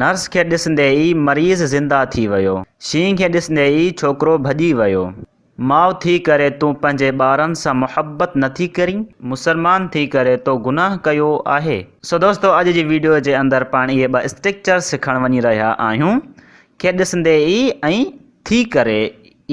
Nurse کي ڏسندي ئي مريض زنده ٿي ويو. شينهن کي ڏسندي ئي ڇوڪرو ڀڄي ويو. ماء ٿي ڪري تون پنهنجي ٻارن سان محبت نه ٿي ڪرين؟ مسلمان ٿي ڪري تو گناهه ڪيو آهي. سو دوستو اڄ جي ويڊيو جي اندر پاڻ اهي ٻه اسٽرڪچر سکڻ وڃي رهيا آهيون کي ڏسندي ئي ۽ ٿي ڪري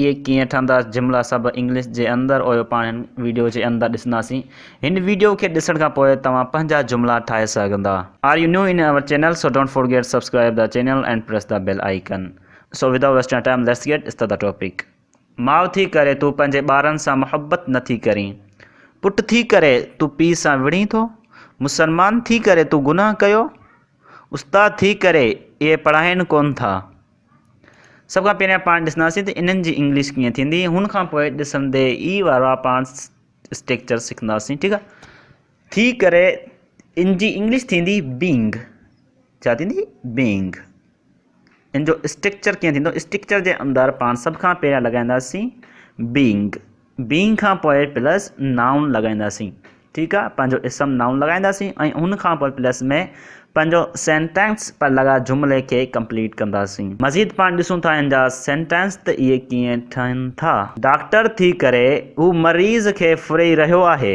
اهي ڪيئن ٺهندا جملا سڀ انگلش جي اندر اهو پاڻ هن ويڊيو جي اندر ڏسنداسين هن ويڊيو کي ڏسڻ کان پوء توهان پنهنجا جملا ٺاهي سگهندا. Are you new in our channel so don't forget subscribe the channel and press the bell icon so without wasting time let's get start the topic ماء ٿي ڪري تون پنهنجي ٻارن سان محبت نه ٿي ڪرين پٽ ٿي ڪري تون پيء سان وڙهين ٿو مسلمان ٿي ڪري تون گناهه ڪيو استاد ٿي ڪري اهي پڙهائين ڪونه ٿا سڀ کان پهريان پاڻ ڏسنداسين ته انهن جي انگلش ڪيئن ٿيندي هن کان پوء ڏسندي ئي وارا پاڻ اسٽرڪچر سکنداسين ٺيڪ آهي ٿي ڪري ان جي انگلش ٿيندي بينگ ڇا ٿيندي بينگ ان جو اسٽرڪچر ڪيئن ٿيندو اسٽرڪچر جي اندر پاڻ سڀ کان پهريان لڳائينداسين بينگ بينگ کان پوء پلس نائون لڳائينداسين ٺيڪ آ پنهنجو اسم نائون لڳائينداسين ۽ ان کان پوء پلس ۾ پنهنجو سينٽينس پر لڳا جملي کي ڪمپليٽ ڪنداسين مزيد پاڻ ڏسون ٿا ان جا سينٽينس ته اهي ڪيئن ٺهن ٿا. ڊاڪٽر ٿي ڪري هو مريض کي ڦري رهيو آهي.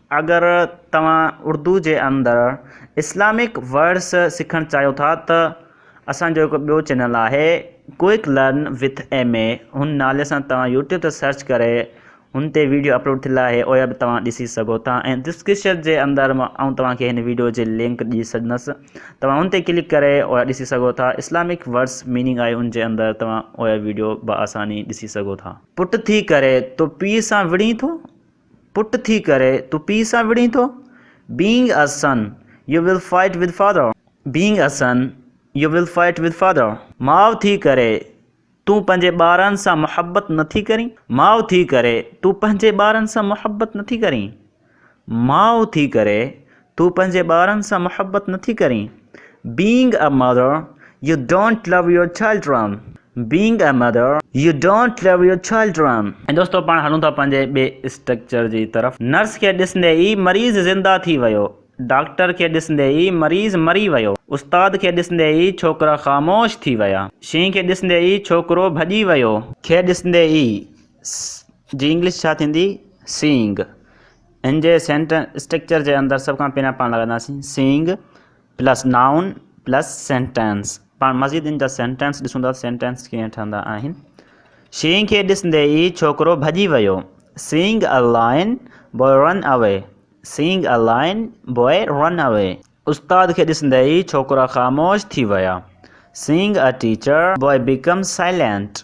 اگر توهان اردو جي اندر اسلامڪ ورڊس سکڻ چاهيو ٿا ته اسان جو هڪ ٻيو چينل آهي quick learn with M A هن نالي سان توهان يوٽيوب تي سرچ ڪري هن تي ويڊيو اپلوڊ ٿيل آهي اهي به توهان ڏسي سگهو ٿا ۽ ڊسڪرپشن جي اندر آئون توهان کي هن ويڊيو جي لنڪ ڏئي ڇڏندس توهان هن تي ڪلڪ ڪري اهي ڏسي سگهو ٿا اسلامڪ ورڊس ميننگ آهي ان جي اندر توهان اهي ويڊيو بآساني ڏسي سگهو ٿا. پٽ ٿي ڪري تو پيء سان وڙهين ٿو. پٽ ٿي ڪري تون پيء سان وڙهين ٿو؟ Being a son، you will fight with father. Being a son، you will fight with father. ماء ٿي ڪري تون پنهنجي ٻارن سان محبت نه ٿي ڪرين؟ ماء ٿي ڪري تون پنهنجي ٻارن سان محبت نه ٿي ڪرين؟ ماء ٿي ڪري تون پنهنجي ٻارن سان محبت نٿي ڪرين Being a mother You don't love your children Being a mother You don't love your children ۽ دوستو پاڻ هلون ٿا پنهنجي ٻئي اسٽرڪچر جي طرف نرس کي ڏسندي ئي مريض زنده ٿي ويو ڊاڪٽر کي ڏسندي ئي مريض مري ويو استاد کي ڏسندي ئي ڇوڪرا خاموش ٿي ويا شينهن کي ڏسندي ئي ڇوڪرو ڀڄي ويو کي ڏسندي ئي جي انگلش ڇا ٿيندي Seeing ان جي سينٽنس اسٽرڪچر جي اندر سڀ کان پهريان پاڻ لڳائينداسين seeing plus noun plus sentence پاڻ مزيد ان جا سينٽنس ڏسون ٿا سينٽنس ڪيئن ٺهندا آهن شينگ کي ڏسندي ئي ڇوڪرو ڀڄي ويو سينگ ا لائن بوء رن اوي سينگ ا لائن بوء رن اوي استاد کي ڏسندي ئي ڇوڪرا خاموش ٿي ويا seeing a teacher boy became silent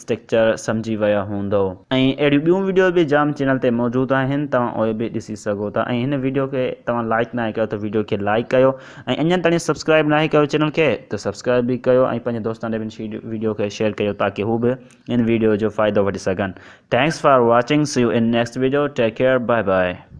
structure سمجهي ويا هوندؤ. ۽ اهڙيون ٻيون ويڊيو به جام چينل تي موجود آهن توهان اهي به ڏسي سگهو ٿا ۽ هن ويڊيو کي توهان لائيڪ ناهي ڪيو ته ويڊيو کي لائيڪ ڪيو ۽ اڃان تائين سبسڪرائيب ناهي ڪيو چينل کي ته سبسڪرائيب به ڪيو ۽ پنهنجي دوستان ڏي به هن ويڊيو کي شيئر ڪيو تاڪه هو به هن ويڊيو جو فائدو وٺي سگهن thanks for watching see you in next video take care bye by.